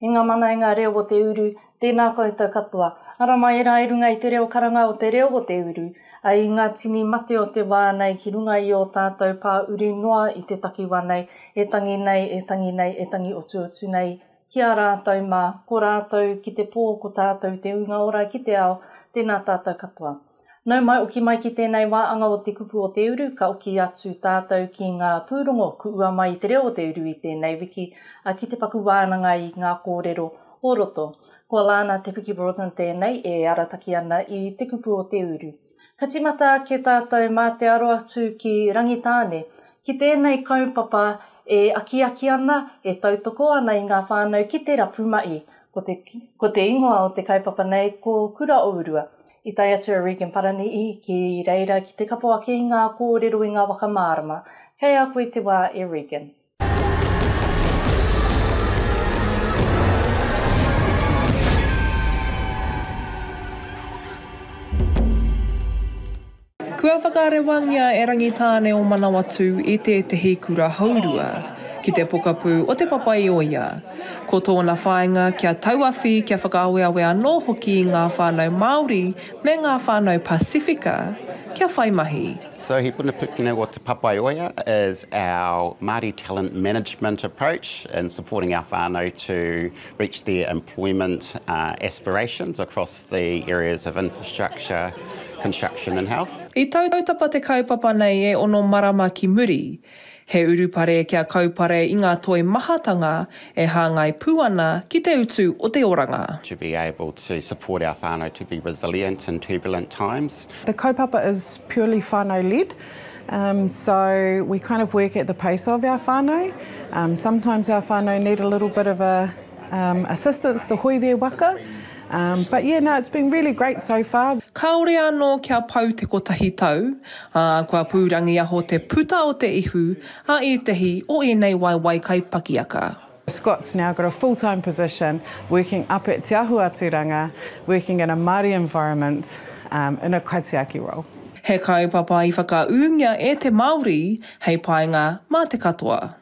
E ngā mana, e ngā reo o te uru, tēnā koutou katoa. Ara mai era i runga i te reo karanga o te reo o te uru, ai i ngā tini mate o te wā nei ki runga i ō tātou pā uri noa i te takiwa nei, e tangi nei, e tangi nei, e tangi otuotu nei, ki a rātou mā, ko rātou ki te pō, ko tātou te ūnga ora ki te ao, tēnā tātou katoa. Nau mai, oki mai ki tēnei wā anga o te kupu o te uru, ka oki atu tātou ki ngā pūrongo kuua mai i te reo o te uru i tēnei wiki, ā, ki te paku wānanga i ngā kōrero o roto. Ko Lana Te Piki Broughton tēnei e arataki ana i te kupu o te uru. Ka timata ake tātou mā te aro atu ki Rangitāne, ki tēnei kaupapa e akiaki ana, e tautoko ana i ngā whānau ki te rapu mahi. Ko te, ko te ingoa o te kaupapa nei ko Kura o Urua. I tae atu a Regan Paranihi ki reira ki te kapo ake i ngā kōrero i ngā waka mārama. Kei a koe te wā e Regan. Kua whakarewangia e Rangitāne o Manawatū i tētehi kura hourua, ki te pokapū o Te Papa-i-ōia. Ko tōna whāinga kia tauawhi, kia whakaaweawe anō hoki i ngā whānau Māori me ngā whānau Pasifika kia whai mahi. So he punapūkino o Te Papaioea is our Māori talent management approach in supporting our whānau to reach their employment aspirations across the areas of infrastructure, construction and health. I tautapa te kaupapa nei e ono marama ki muri, He urupare kia kaupare i ngā toi mahatanga e hāngai pū ana ki te utu o te oranga. To be able to support our whānau to be resilient in turbulent times. The kaupapa is purely whānau led, so we kind of work at the pace of our whānau. Sometimes our whānau need a little bit of a. assistance to hoire waka but yeah no it's been really great so far. Kāore anō kia pau te kotahi tau, ā, kua pūrangiaho te puta o te ihu a ētahi o ēnei waewae kaipakiaka. Scott's now got a full time position working up at Te Ahu a Turanga, working in a Māori environment in a kaitiaki role. He kaupapa i whakaūngia e te Māori hei painga mā te katoa.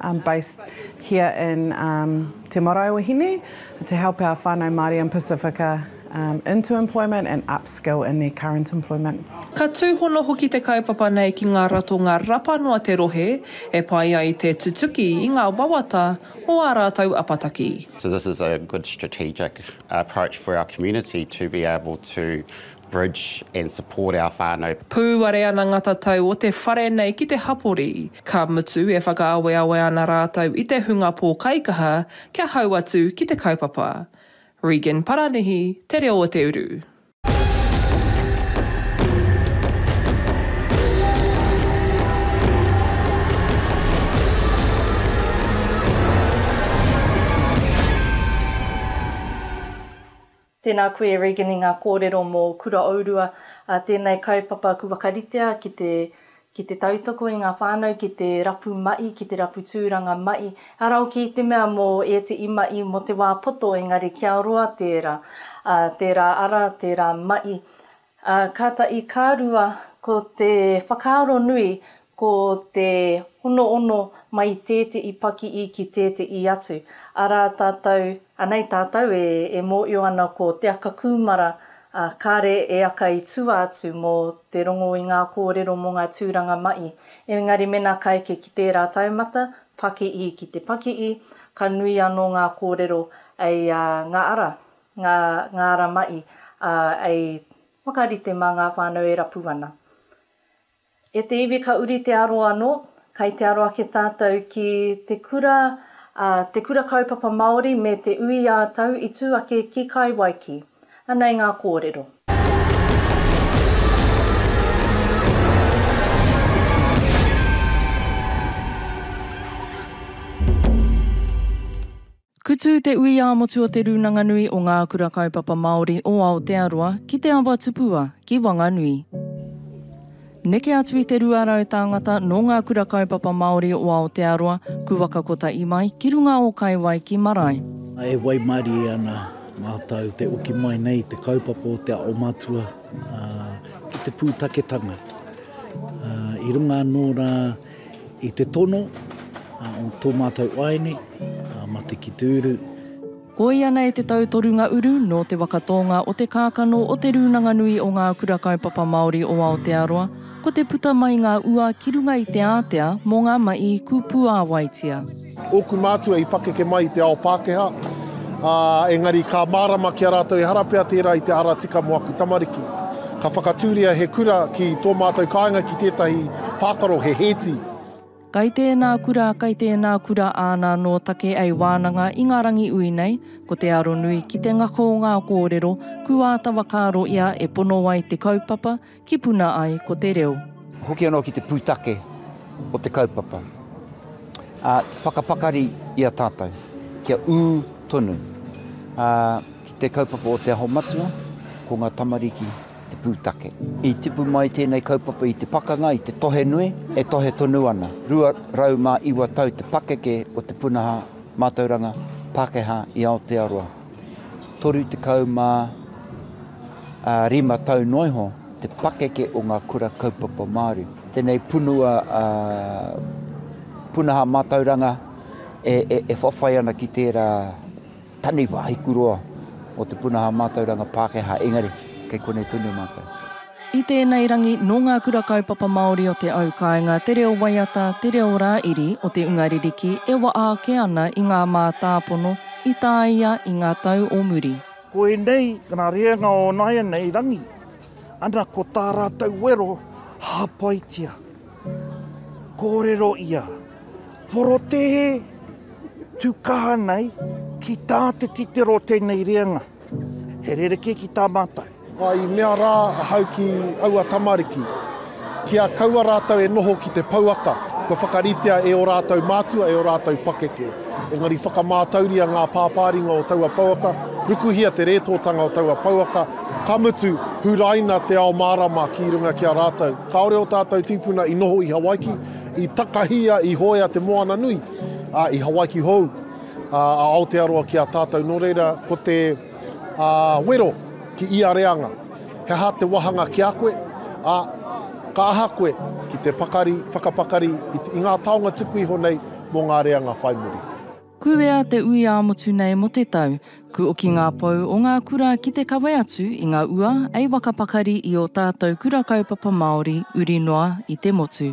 I'm based here in Te Marae o Hine to help our whanau Māori and Pasifika into employment and upskill in their current employment. Ka tūhono hoki te kaupapa nei ki ngā ratonga rapano a te rohe e pai ai te tutuki i ngā wawata o ā rātou apataki. So this is a good strategic approach for our community to be able to bridge and support our whānau. Pūare ana ngā tatau o te whare nei ki te hapori, ka mutu e whakaaweawe ana rātou i te hunga pōkaikaha kia hau atu ki te kaupapa. Regan Paranihi, Te Reo o te Uru. Tēnā koe e Regan i ngā kōrero mō Kuraourua, ā, tēnei kaupapa ku whakaritea ki te ki te tautoko i ngā whānau, ki te rapu maʻi, ki te rapu tūranga maʻi, ara hoki i te mea mō ēteʻi maʻi mō te wā poto engari kia roa tērā, ā, tērā ara, tērā maʻi, Ā, kāta i kā rua ko te whakaaro nui ko te honoono mai i tēteʻi pakiʻi ki tēteʻi atu, arā tātou, anei tātou e, e mōʻio ana ko te aka kūmara, ā, kāre e aka i tua atu mō te rongo i ngā kōrero mō ngā tūranga maʻi. Engari mēnā ka eke ki tērā taumata, pakiʻi ki te pakiʻi, ka nui anō ngā kōrero, ei, ā, ngā ara. ngā ngāra mahi, ā, i whakarite mā ngā whānau e rapu ana. E te iwi ka uri te aro anō, kai te aro ake tātou ki te kura, ā, te Kura Kaupapa Māori me te Ui ā Tau i tū ake ki Kai Waiki. Anei ngā kōrero. Kutu te ui ā-motu o Te Rūnanga Nui o Ngā Kura Kaupapa Māori o Aotearoa ki te awa tupua ki Wanganui. Neke atu i te 200 tāngata nō Ngā Kura Kaupapa Māori o Aotearoa, Kuwaka Kotahi mai ki runga o Kaiwai ki Marae. E waimarie ana mātou te oki mai nei i te kaupapa o te ao matua ki te pūtaketanga. I runga anō rā. I te tono o tō mātou waeine a Mate ki te Uru. Koia nei te tau toru nga uru nō te waka tōnga o te kākano o Te Rūnanga Nui o Ngā Kura Kaupapa Māori o Aotearoa, ko te puta mai ngā ua ki runga i te ātea mō ngā maʻi kūpūāwaitia. Ōku mātua i pakeke mai i te ao Pākehā, ā, engari ka mārama ki a rātou ehara pea tērā i te ara tika mō aku tamariki. Ka whakatūria he kura ki tō mātou kāinga ki tētahi pākaro, he hēti. Kai tēnā kura, kai tēnā kura āna anō take ei wānanga i ngā rangi ui nei, ko te aronui ki te ngako o ngā kōrero, kū āta whakaaro ia e pono ai te kaupapa, Ki puna ai ko te reo. Hoki anō ki te pūtake o te kaupapa. Ā, whakapakari i a tātou kia ū tonu, ā, ki te kaupapa o Te Aho Matua, ko ngā tamariki te pūtake. I tipu mai tēnei kaupapa i te pakanga, i te tohe nui, e tohe tonu ana. 209 tau te pakeke o te punaha mātauranga Pākehā i Aotearoa. 35 tau noa iho te pakeke o ngā kura kaupapa Māori. Tēnei punua punaha mātauranga e whawhai ana ki tērā taniwha hikuroa o te punaha mātauranga Pākehā, engari kei konei tonu mātou. I tēnei rangi, nō ngā kura kaupapa Māori o te au kāinga te reo waiata, te reo rā-iri o te unga ririki e waʻa ake ana i ngā mātāpono i tāia i ngā tau o muri. Ko ēnei ngā reanga o nāianei rangi, ana ko tā rātou wero hāpaitia, kōrero ia, porotēhe, tukahana ai ki tā te titiro tēnei reanga. He rerekē ki tā mātou. I mea rā ahau ki aua tamariki, kia kaua rātou e noho ki te pouaka kua whakaritea e ō rātou mātua, e ō rātou pakeke. Engari whakamātauria ngā pāpāringa o taua pouaka, rukuhia te rētōtanga o taua pouaka, ka mutu, huraina te ao mārama ki runga ki a rātou. Kāore ō tātou tīpuna i noho i Hawaiki, i takahia, i hoea te moana nui, ā, i Hawaiki hou. a Aotearoa ki a tātou, nō reira ko te wero ki ia reanga, he aha te wāhanga ki a koe, ā, ka aha koe ki te pakari, whakapakari i ngā taonga tuku iho nei mō ngā reanga whai muri. Kūwea te ui ā-motu nei mo te tau, kūoki ngā pou o ngā kura ki te kawe atu i nga ua ei wakapakari i o tātou kura kaupapa Māori uri noa i te motu.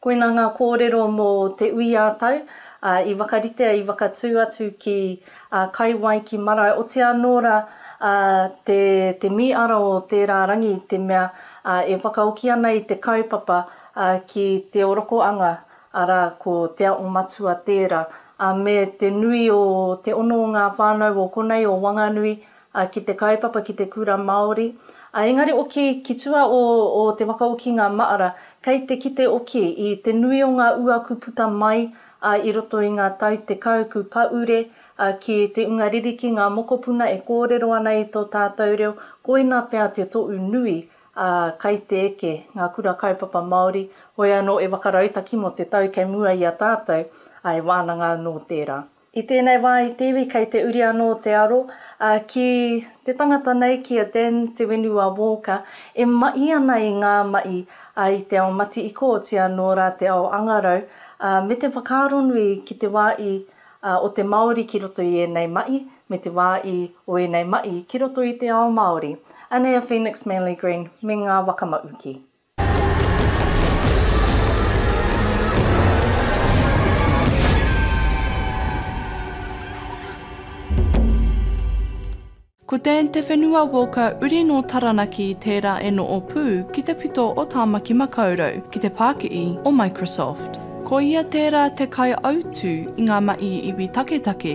Koina ngā kōrero mō Te Ui-ā-tau, ā, i whakaritea, i whakatū atu ki a Kai Wai ki Marae, oti anō rā, ā, te, te mī ara o tērā rangi i te mea, ā, e whakaoki ana i te kaupapa, ā, ki te orokoanga, arā, ko Te Aho Matua tērā, ā, me te nui o te ono o ngā whānau o konei o Wanganui, a ki te kaupapa ki te kura Māori, a engari oki ki tua o o te waka o ki nga maara, kei te kite oki i te nui o nga uaku puta mai a i roto i nga tau tekau ku paure a ki te unga ririki nga mokopuna e koorero ana i to taatou reo, koina pea te tohu nui a kai te eke nga kura kaupapa Māori, hoea no e waka rautaki mo te tau kei mua i a taatou, a e waananga ano teeraa. I tēnei wā i te iwi kei te uri anō te aro, ā, ki te tangata nei, ki a Dan Te Whenua Walker, e maʻi ana i ngā maʻi, ā, i te ao mati-i-kōtia nō rā te ao angarau, ā, me te whakaaro nui ki te wā i, ā, o te Māori ki roto i ēnei maʻi, me te wā i, o ēnei maʻi ki roto i te ao Māori. Anei a Phoenix Manley Green me ngā waka maʻuki. Ko Te Te Whenua Walker uri nō Taranaki tērā e noho pū ki te pito o Tāmaki Makaurau ki te pākihi o Microsoft. Ko ia tērā te kaiautū i ngā mahi iwi taketake.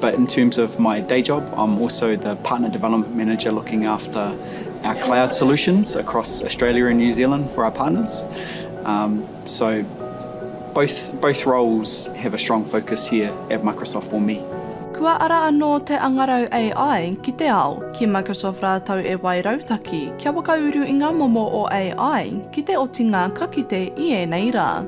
But in terms of my day job, I'm also the Partner Development Manager looking after our cloud solutions across Australia and New Zealand for our partners. So both roles have a strong focus here at Microsoft for me. Kua ara anō te angarau AI ki te ao, ki Microsoft rātou e wai rautaki kia whakauru i ngā momo o AI ki te otinga ka kite i ēnei rā.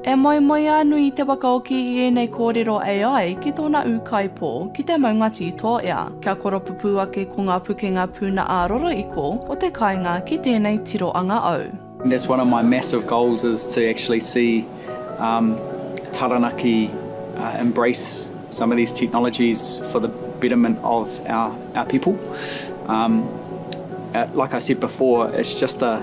E moemoeā nui te wakaoki i ēnei kōrero AI ki tōna ūkaipō, ki te maunga tītoea, kia koropupū ake ko ngā pukenga puna ā-roroiko o te kāinga ki tēnei tiroanga au. That's one of my massive goals is to actually see um Taranaki embrace some of these technologies for the betterment of our people um like I said before it's just a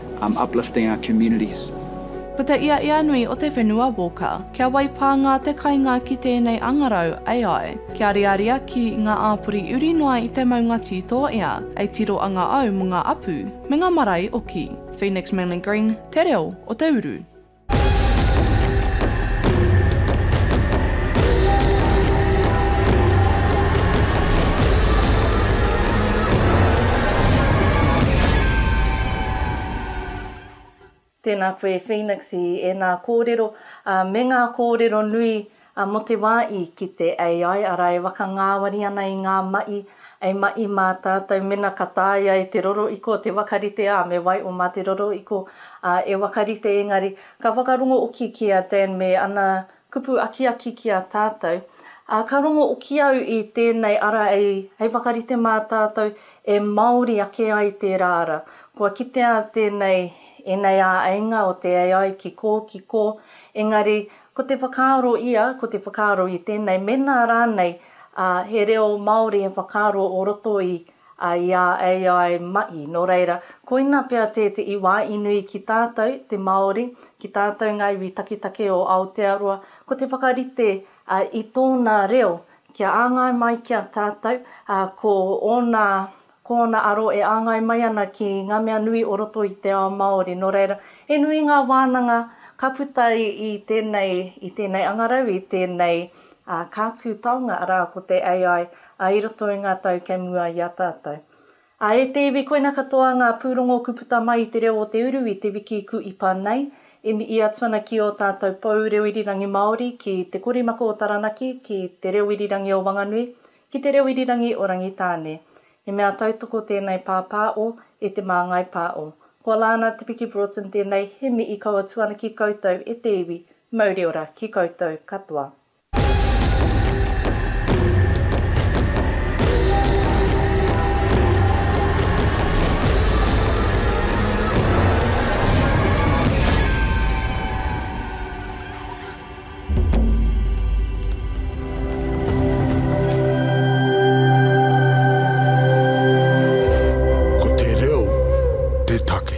uplifting our communities. Ko te iaia nui o te whenua Walker, kia wai pānga te kainga ki tēnei angarau AI, kia riaria ki ngā āpori uri noa i te maunga tī tō ia, ei tiro anga au mō ngā apu, me ngā marae oki. Phoenix Manly Green, Te Reo o te Uru. Tēnā koe Phoenix i ēnā kōrero me ngā kōrero nui A mo te wa i kite AI ara e waka ngawari ana i nga maʻi, ei maʻi ma tatou mena ka taea e te roroiko te wakarite a me wai o ma te roroiko a e wakarite engari ka whakarongo oki ki a Dan me ana kupu akiaki ki a tatou. A ka rongo oki au i tenei ara ei hei wakarite ma tatou e maori ake ai tera ara. Kua kitea tenei enei a ainga o te AI ki ko, ki ko, engari Ko te whakaaro ia, ko te whakaaro i tēnei, mēnā rānei he reo Māori he whakaaro o roto i a AI mahi. Nō reira, koina pea te iwa i nui ki tātou te Māori, ki tātou ngā iwi taketake o Aotearoa, ko te whakarite i tōna reo kia āngai mai ki a tātou, ko ōna Ko ōna aro e āngai mai ana ki ngā mea nui o roto i te ao Māori. Nō reira, he nui ngā wānanga ka puta i tēnei, i tēnei angarau, i tēnei kātū taonga, arā, ko te AI i roto i ngā tau kei mua i a tātou. Ā, e te iwi, koina katoa ngā pūrongo ku puta mai i te reo o te uru i te wiki ku ipa nei. I mihi atu ana ki ō tātou pou reo irirangi Māori, ki Te Korimako o Taranaki, ki Te Reo Irirangi o Wanganui, Ki te reo irirangi o Rangitāne. He mea tautoko tēnei pāpā o e te māngai pā o. Kua la ana Te Piki Broughton tēnei he mihi kaua tu ana ki koutou e te iwi, mauri ora ki koutou katoa. Ko te reo te take.